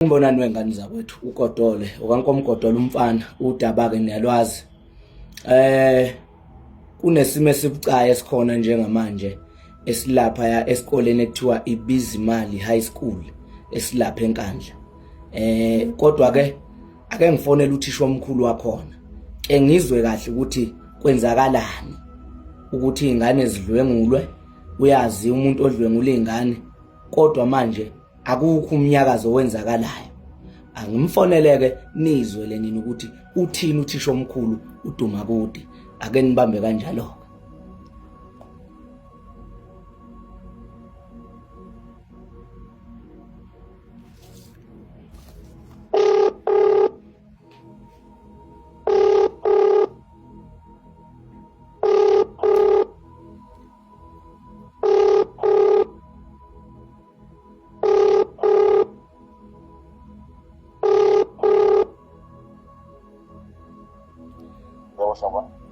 Ngibonani wengane zakwethu uGodole okankomgodole umfana udaba ke niyalwazi eh kunesimo esibucayi esikhona njengamanje esilapha ya esikoleni ekuthiwa ibizimali high school esilapha enkandla eh kodwa ke ake ngifonele uthisha omkhulu wakhona ke ngizwe kahle ukuthi kwenzakalani ukuthi izingane zidlwengulwe uyazi umuntu odlwengula izingane kodwa manje akukho umnyakazo owenzakalayo angimfoneleke nizwe lenini ukuthi uthini uthisha omkhulu uduma kude ake nibambe kanjalo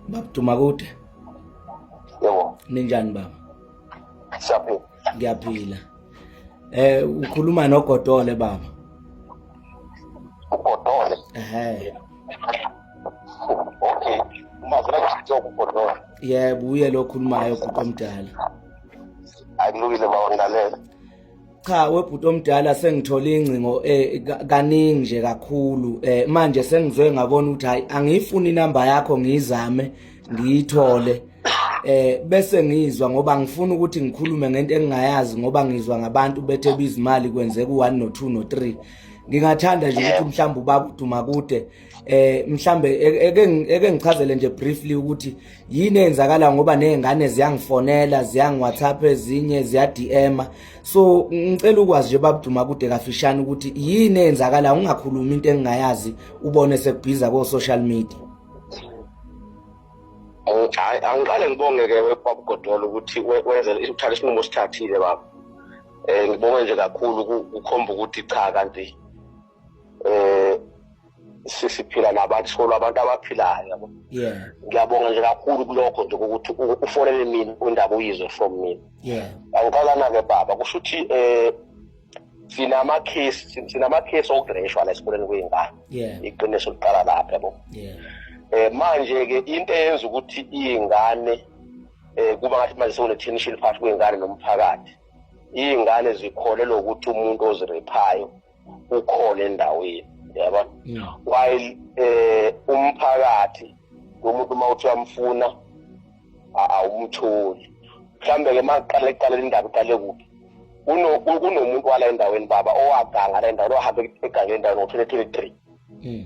babuduma kude yebo ninjani baba siyaphila ngiyaphila eh ukhuluma nogodole baba ugodole ehe okay mazela kuthi ugodole yebo uye lo khulumayo kuqomdala akulungile bawangilalela cha webhuti omdala sengithole ingcingo eh kaningi nje kakhulu eh manje sengizwe ngabona ukuthi hayi angiyifuni inamba yakho ngiyizame ngiyithole eh bese ngizwa ngoba ngifuna ukuthi ngikhulume ngento engingayazi ngoba ngizwa ngabantu bethe bizimali kwenzeka u1 no 2 no 3 ngingathanda nje ukuthi mhlawumbe ubaba uduma kude eh mhlambe eke eke ngichazele nje briefly ukuthi yini eyenzakala ngoba nezingane ziyangifonela ziyangiwhatsapp ezinye ziyadm so ngicela ukwazi nje babuduma kude kafishane ukuthi yini eyenzakala ungakhulumi into engingayazi ubone sekubhiza ko social media hayi angiqale ngibonge ke kwabugodolo ukuthi wenze uthathe isinqumo sithathile baba eh ngibonge nje kakhulu ukukhomba ukuthi cha kanti eh sisiphila nabantu solo abantu abaphilayo yabo yeah ngiyabonga nje kakhulu kulokho nje ukuthi ufonele mina undaba uyizwe from mina yeah angikhalana ke baba kusho ukuthi eh sinama case sinama case ogresha la esikoleni kwengane yeah iqiniso liqala lapha yabo yeah eh manje ke into eyenza ukuthi ingane eh kuba ngathi manje sewune tension phakathi kwengane nomphakathi ingane zikholelwa ukuthi umuntu ozirephayo ukhona endaweni yaba while eh umphakathi umuntu uma uthi uyamfuna awumtholi mhlambe ke maqale eqale indaba iqale kuphi kunomuntu wala endaweni baba owaganga la endaweni ohambe egangeni endaweni ngo-twenty twenty three hmm.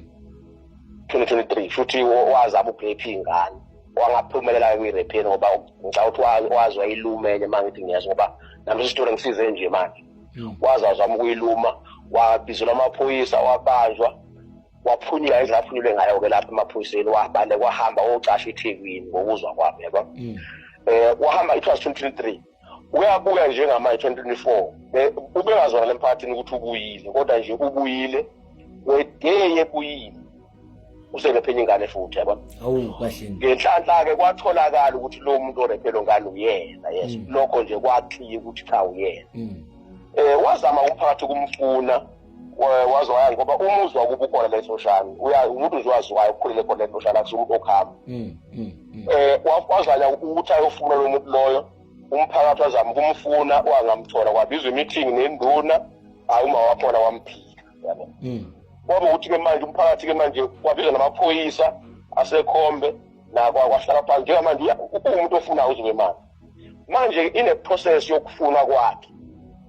twenty twenty three futhi wazama ukurepha iy'ngane wangaphumelela-ke kwi-repeni ngoba ngicabanga ukuthi wazwa ilume enye uma ngithi ngiyazi ngoba nami isitori ngisize nje manje hmm. waze wazama ukuyiluma wabizelwa amaphoyisa wabanjwa waphunyula indlela aphunyule ngayo-ke lapha emaphoyiseni wabale kwahamba wocasha ithekwini ngokuzwa kwami yabo um wahamba it was twenty twenty three uyabuya njengamanje twenty twenty four eh, ubengazwakala emphakathini ukuthi ubuyile kodwa nje ubuyile weday ebuyile userephe ingane futhi yabona awu kahle ngenhlanhla ke kwatholakala ukuthi lo muntu orephe lo ngane uyena yes mm. lokho nje kwakhiya ukuthi cha uyena mm. eh wazama umphakathi kumfuna wazwaya ngoba umuzi wakuba ukhona lesoshana uya umuntu nje waziwayo ukhulele khona lesoshana akusuke umuntu okhamba mm, mm, mm. eh wazanya ukuthi ayofuna lo muntu loyo umphakathi wazama ukumfuna wangamthola kwabizwa imeeting nenduna hayi uma wakhona wamphika yabo mm. kwaba ukuthi ke manje umphakathi ke manje kwabiza namaphoyisa asekhombe nakwahlala phansi njengamanje uwumuntu ofuna uzobe manje manje ine-process yokufuna kwakhe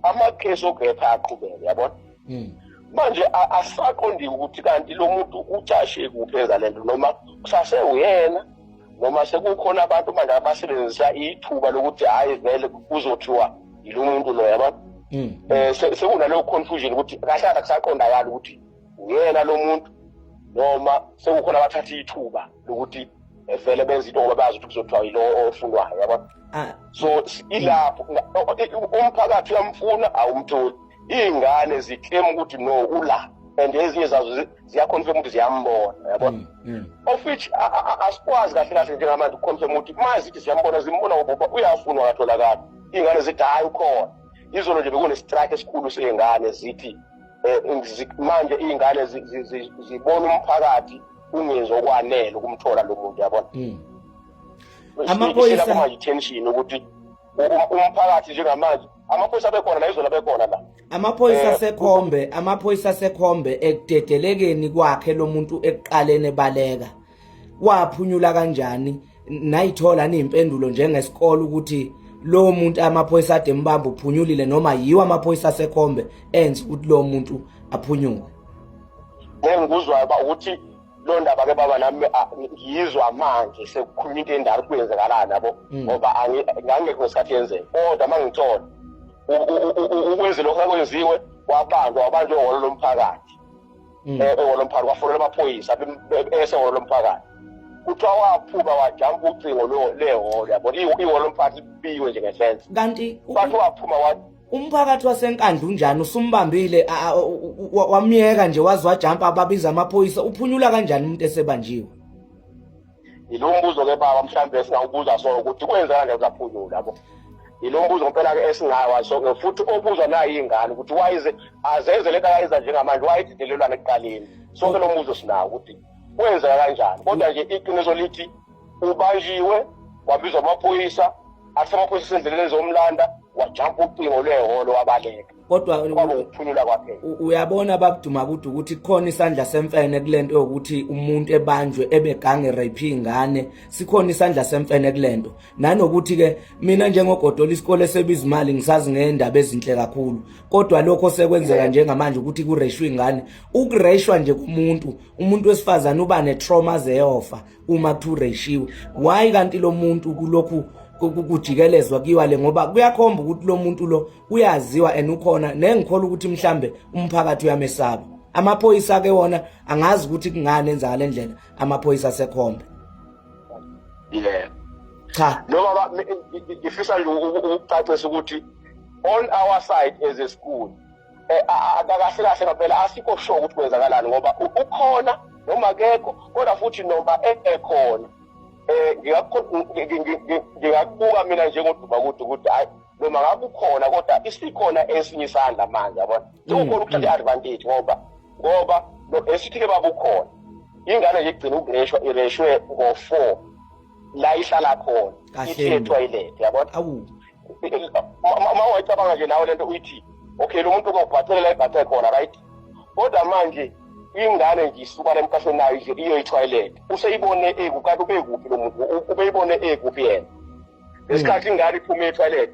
amakhesi okepha aqhubeke yabona mm. manje asaqondile ukuthi kanti lo muntu ucashe kuphi enza le nto noma kusasewuyena noma sekukhona abantu manje abasebenzisa ithuba lokuthi hhayi vele kuzothiwa yilo muntu lo yaba um mm, mm. eh, sekunaleyo confusion ukuthi kahle kahle kusaqondakala ukuthi uyena lo muntu noma sekukhona abathatha ithuba lokuthi eh, vele benza into ngoba bazi ukuthi kuzothiwa yilo ofunwayo yaba ah. so ilapho umphakathi uyamfuna awumtholi iy'ngane ziklema ukuthi no ula and ezinye zazo ziyakhonisa umuntu ziyambona yabo mm, mm. of which asikwazi kahle kahle njengamanje ukukhonisa umuntu uma zithi ziyambona zimbona ubaba uyafunwa katholakala iy'ngane zithi hhayi ukhona izolo nje bekunestrike esikhulu sey'ngane zithi um manje iy'ngane zibona umphakathi ungenzi okwanele ukumthola lo muntu yabona mm. amaphoyisa kuma-attention ukuthi umphakathi njengamanje amaphoyisa abekhona la izolo abekhona la amaphoyisa eh, asekhombe amaphoyisa asekhombe ekudedelekeni kwakhe lo muntu ekuqaleni ebaleka waphunyula kanjani nayithola niyimpendulo njengesikole ukuthi lo muntu amaphoyisa ade mbamba uphunyulile noma yiwo amaphoyisa asekhombe enza ukuthi lo muntu aphunyuke ngeke ngikuzwayo ba ukuthi loo ndaba ke baba nami ngiyizwa manje sekukhuluma into endala kuyenzekalani yabo hmm. ngoba ngangekho ngesikhathi yenzeka kodwa uma ngithola ukwenze lokhu akwenziwe wabanjwa wabanjwa ehholo lomphakathi um hmm. eh, ehholo lomphakathi wafonela amaphoyisa esehholo lomphakathi kuthiwa waphuka wajampa ucingo lehholo yabona ihholo lomphakathi libiwe nje ngesense kanti wathi waphuma umphakathi wasenkandla unjani usumbambile wamyeka nje waze wajampa ababiza amaphoyisa uphunyula kanjani umuntu esebanjiwe yilo mbuzo ke baba mhlawumbe esingawubuza so ukuthi kwenzeka nje uzaphunyula yabo yilo mbuzo ngempela ke esingawa so futhi obuzwa nayo ingane ukuthi wayize azenze lento akayenza njengamanje wayididelelwana ekuqaleni sonke lo mbuzo sinawo ukuthi kwenzeka kanjani kodwa nje iqiniso lithi ubanjiwe wabizwa amaphoyisa asemakhosi sendleleni zomlanda wajampa ucingo lwehholo wabaleka kodwa kwaba ukuphulula kwaphela uyabona babuduma kude ukuthi khona isandla semfene kulento yokuthi umuntu ebanjwe ebegange rape ingane sikhona isandla semfene kulento nanokuthi ke mina njengogodola isikole sebiza imali ngisazi ngendaba ezinhle kakhulu kodwa lokho sekwenzeka njengamanje ukuthi kureshwe ingane ukureshwa nje kumuntu umuntu wesifazana uba ne trauma zeyofa uma kuthiwa ureshiwe why kanti lo muntu kulokhu kujikelezwa kiwa le ngoba kuyakhomba ukuthi lo muntu lo uyaziwa and ukhona nengikhola ukuthi mhlambe umphakathi uyamesaba amaphoyisa ke wona angazi ukuthi kungani enza ngale ndlela amaphoyisa asekhombe yeah cha no baba ngifisa nje ukucacisa ukuthi on our side as a school eh, akakahle kahle ngempela asikho sho ukuthi kwenzakalani ngoba ukhona noma kekho kodwa futhi noma ekhona eh, um ngingakubuka mina njengoduba kude ukuthi hayi noma ngabe ukhona kodwa isikhona esinye isandla manje yabona sekukhona mm, ukuthatha mm. i-advantage ngoba ngoba esithi-ke babukhona ingane nje igcina ukureshwa ireshwe ngo-four la ihlala khona ithi etoilet yabona uma wayicabanga nje nawe lento uyithi okay lo muntu uzobhathele la ibhathe khona right kodwa manje ingane nje isuka la emqashweni nayo nje iyoyithoyilet useyibone eku kanti ubekuphi lo muntu ubeyibone ekuphi yena ngesikhathi ingane iphume ethoyilet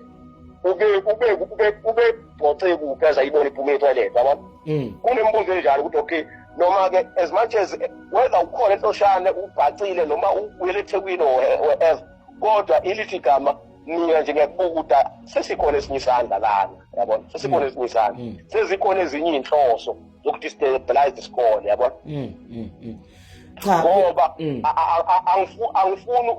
ube ube ube ube gcoxe kuphi azayibona iphume ethoyilet yabona mm. kunembuzo enjalo ukuthi okay noma-ke as much as whether ukhona entoshane ubhacile noma uyele ethekwini or wherever kodwa ilithi gama mina nje ngiyakubuka ukuthi ah, sesikhona esinye isandla lana yabona sesikhona mm. esinye isandla mm. sezikhona ezinye iy'nhloso zokudestabilize isikole yabona mm, ngoba angifuni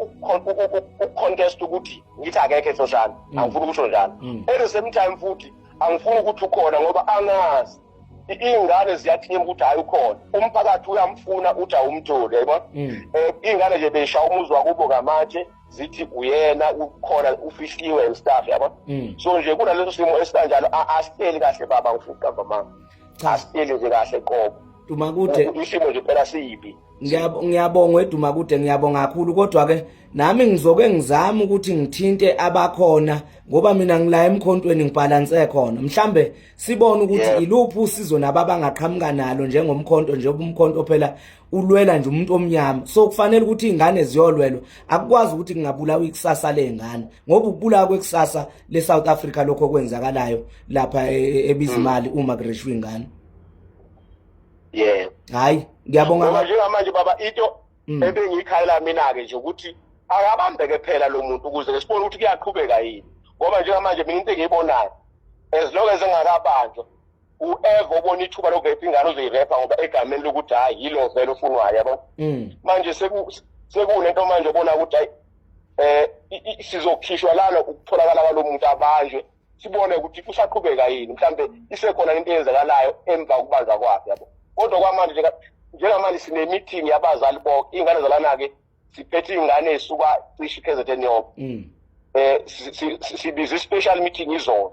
ukucontest ukuthi ngithi akekho esoshana angifuni ukusho njalo at the same time futhi angifuni ukuthi ukhona ngoba angazi iy'ngane ziyathima ukuthi hhayi ukhona umphakathi uyamfuna uthi awumtholi yayibona um iy'ngane nje beyishaya umuzi wakubo ngamatshe zithi uyena ukhona ufihliwe and stuff yabo mm. so nje kunaleso simo esikanjalo asiteli kahle baba ngifuqa mama asiteli nje kahle qobo Dumakude isimo nje phela siyibi ngiyabonga wedumakude ngiyabonga kakhulu kodwa ke nami ngizoke ngizame ukuthi ngithinte abakhona ngoba mina ngila emkhontweni ngibhalanse khona mhlambe sibone ukuthi iluphi usizo nabo abangaqhamuka nalo njengomkhonto njengoba umkhonto phela ulwela nje umuntu omnyama so kufanele ukuthi izingane ziyolwelwa akukwazi ukuthi kungabulawa ikusasa lezingane ngoba ukubulawa kwekusasa le South Africa lokho kwenzakalayo lapha e, e, ebizimali mm. uma kureshwa izingane yeah hayi ngiyabonga manje ngamanje baba into mm. ebengiyikhayela mina ke nje ukuthi akabambeke phela lo muntu ukuze sibone ukuthi kuyaqhubeka yini ngoba njengamanje mina into engiyibonayo as long as engakabanjwa u-eva obona ithuba lokurepa ingane uzoyirepa ngoba egameni lokuthi hhayi yilo vele ofunwayo yabo mm. manje sekunento manje obona ukuthi hayi eh sizokhishwa lana ukutholakala kwalo muntu abanjwe sibone ukuthi kusaqhubeka yini mhlambe isekhona into eyenzakalayo emva kokubanza kwakhe yabo kodwa kwamanje njengamanje sinemeeting yabazali bonke iy'ngane zalana-ke siphethe iy'ngane ey'suka cishe i-kzn yonke um mm. eh, sibize i-special meeting izolo